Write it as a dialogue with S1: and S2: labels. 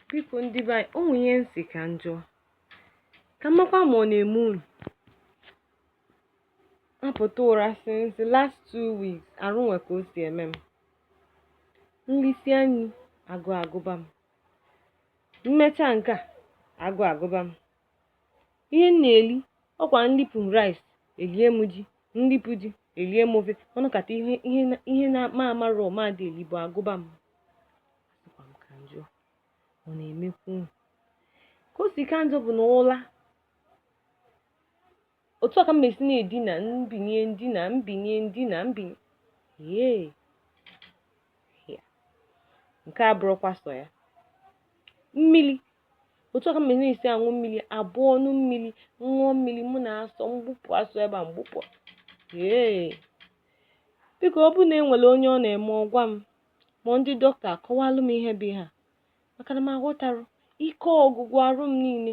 S1: biko ndị be anyị o nwere ihe m sị ka m jụọ ka m makwa ma ọ na-eme unu apụta ụra since the last two weeks arụ nwe ka o si eme m m lisịa nni agụụ agụba m m mecha nke a agụụ agụba m ihe m na-eli ọkwa m lipụ rice elie m ji m lipụ ji elie m ofe ọ nọkata ihe ihe na- ihe na m amarọ ma a dị eli bụ agụba m asịkwa m ka m jụọ ọ na-emekwu unu ka o si ka njọ bụ na ụla otu a ka m mesi na-edina m binie m dina m binie m dina m binie ee ya nke a abụrọkwa sọ ya mmiri otu a ka m mesi na-esi aṅụ mmiri a bụ m ṅụọ mmiri ṅụọ mmiri mụ na asọ m gbụpụ asọ ebe a m gbụpụ ee biko ọ bụrụ na e nwere onye ọ na-eme ọ gwa m ma ndị dọkịta akọwalụ m ihe bụ ihe a maka na m aghọtarọ ike ọgwụgwụ arụ m niile